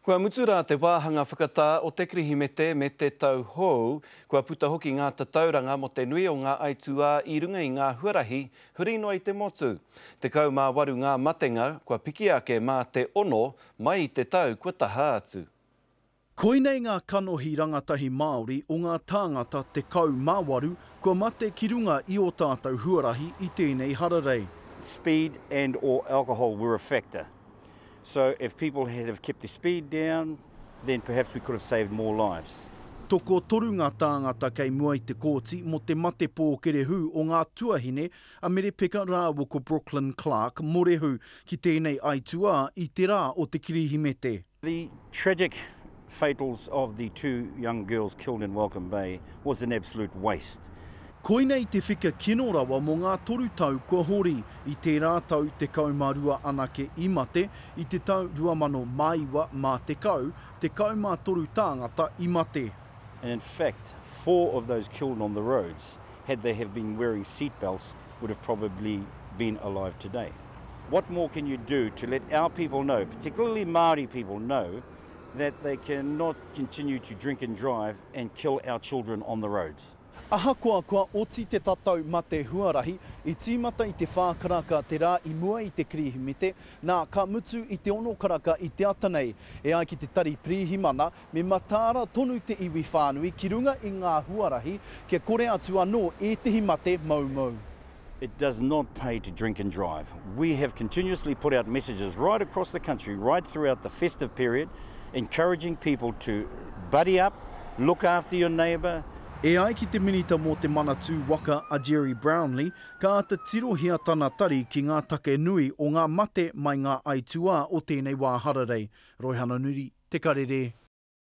Kua mutu rā te wāhanga whakatā o te Kirihimete me te tau hou, kua puta hoki ngā tatauranga mō te nui o ngā aituā i runga i ngā huarahi huri noa i te motu. Tekau mā waru ngā matenga kua piki ake mā te ono mai i te tau kua taha atu. Koinei ngā kanohi rangatahi Māori o ngā tāngata tekau mā waru kua mate ki runga i ō tātou huarahi i tēnei hararei. Speed and or alcohol were a factor. so if people had have kept their speed down then perhaps we could have saved more lives. Tokotoru ngā tāngata kei mua i te kōti mō te mate pōkerehū o ngā tuahine a Mere Peka rāua ko Brooklyn Clark Morehu ki tēnei aituā i te rā o te Kirihimete. The tragic fatals of the two young girls killed in Welcome Bay was an absolute waste. Koinei te whika kino rawa mō ngā toru tau kua hori, i tērā tau 12 anake i mate, i te tau 2009 mā 10, 13 tāngata i mate. And in fact, four of those killed on the roads, had they have been wearing seat belts, would have probably been alive today. What more can you do to let our people know, particularly Māori people know, that they cannot continue to drink and drive and kill our children on the roads. Ahakoa kua oti te tatau mate huarahi, i tīmata i te whā karaka te rā i mua i te Kirihimete, nā, ka mutu i te ono karaka i te ata nei. E ai ki te Tari Pirihimana, me mataara tonu te iwi whānui ki runga i ngā huarahi kia kore atu anō ētehi mate moumou. It does not pay to drink and drive. We have continuously put out messages right across the country, right throughout the festive period, encouraging people to buddy up, look after your neighbour, E ai ki te Minita mō Te Manatū Waka a Gerry Brownlee, ka āta tirohia tana tari ki ngā take nui o ngā mate mai ngā aituā o tēnei wā hararei. Roihana Nuri, Te Karere.